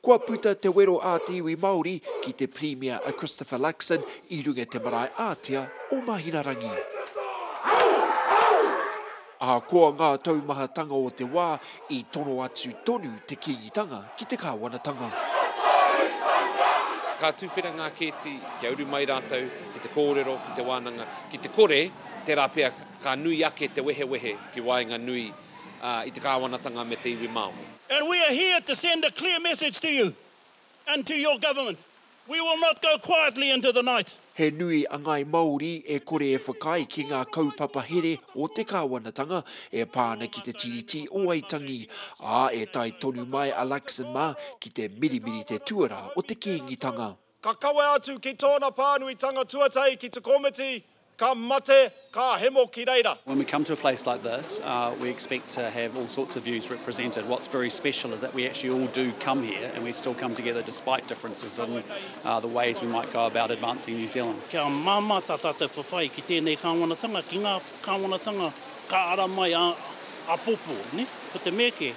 Kua puta te wero a te iwi Māori ki te Pirimia a Christopher Luxon i runga i te marae ātea o Mahinarangi. Ahakoa ngā taumahatanga o te wā, i tono atu tonu te Kīngitanga ki te kāwanatanga. Ka tuwhera ngā kēti kia uru mai rātou ki te kōrero, ki te wānanga, ki te kore, tērā pea. Ka nui ake te wehewehe ki waenga nui i te kāwanatanga me te iwi Māori. And we are here to send a clear message to you and to your government, we will not go quietly into the night. He nui a ngāi Māori e kore e whakaae ki ngā kaupapa here o te kāwanatanga e pā ana ki te Tiriti o Waitangi, ā, e tae tonu mai a Luxon mā ki te mirimiri te tuarā o te Kīngitanga. Ka kawe atu ki tōna pānuitanga tuatahi ki te komiti, ka mate, ka hemo ki reira. When we come to a place like this, we expect to have all sorts of views represented. What's very special is that we actually all do come here and we still come together despite differences in the ways we might go about advancing New Zealand. Kia māmā tā tātou whawhai ki tēnei kāwanatanga, ki ngā kāwanatanga ka ara mai āpōpō, nē? Ko te mea kē,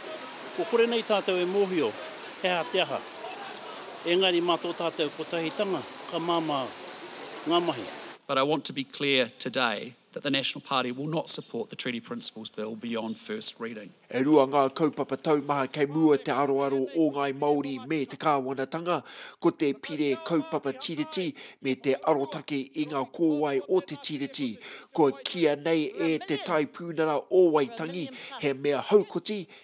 kua kore nei tātou e mōhio he aha te aha. Engari mā tō tātou kotahitanga ka māmā ngā mahi. But I want to be clear today that the National Party will not support the Treaty Principles Bill beyond first reading. E rua ngā kaupapa taumaha kei mua te aroaro o Ngāi Māori me te kāwanatanga, ko te Pire Kaupapa Tiriti me te arotake i ngā kōwae o te Tiriti. Kua kīia nei e Te Taipūnara o Waitangi he mea haukoti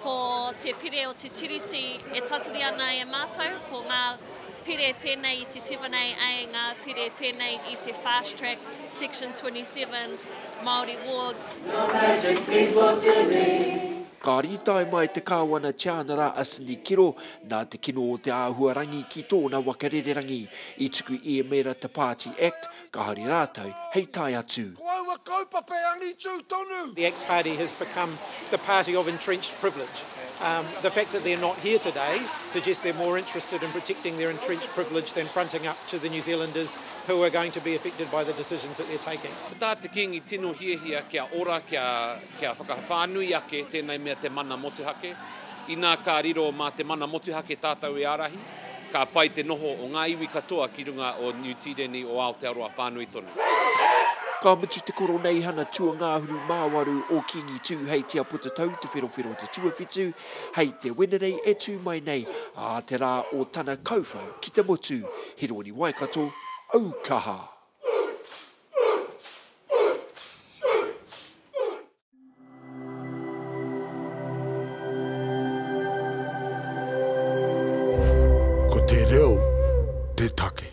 Ko te pire o te Tiriti e tatari ana e mātou, ko ngā pire pēnei i te 7AA, ngā pire pēnei i te Fast Track, Section 27, Māori Wards. Ka rītae mai te Kāwana Tianara a Cindy Kiro nā te kino o te āhuarangi ki tōna waka rererangi i tuku i Emera Te Pāti Act ka hari rātou hei tae atu. Ko aua kaupapa e angitū tonu. The Act Party has become the party of entrenched privilege. The fact that they're not here today suggests they're more interested in protecting their entrenched privilege than fronting up to the New Zealanders who are going to be affected by the decisions that they're taking. Ko tā te Kīngi tino hiahia kia ora, kia, kia whakawhānui ake tēnei mea te mana motuhake. Inā ka riro mā te mana motuhake tātou e ārahi. Ka pai te noho o ngā iwi katoa ki runga o Niu Tīreni o Aotearoa whānui tonu. Ka mutu te Koroneihana Tuangāhuru Māwaru o Kīngi Tū hei Te Apotatau Te Wherowhero Te Tuawhitu hei te Wenerei e tū mai nei, ā te rā o tana kauwhau ki te motu. He rōni Waikato aukaha. Ko te reo te take.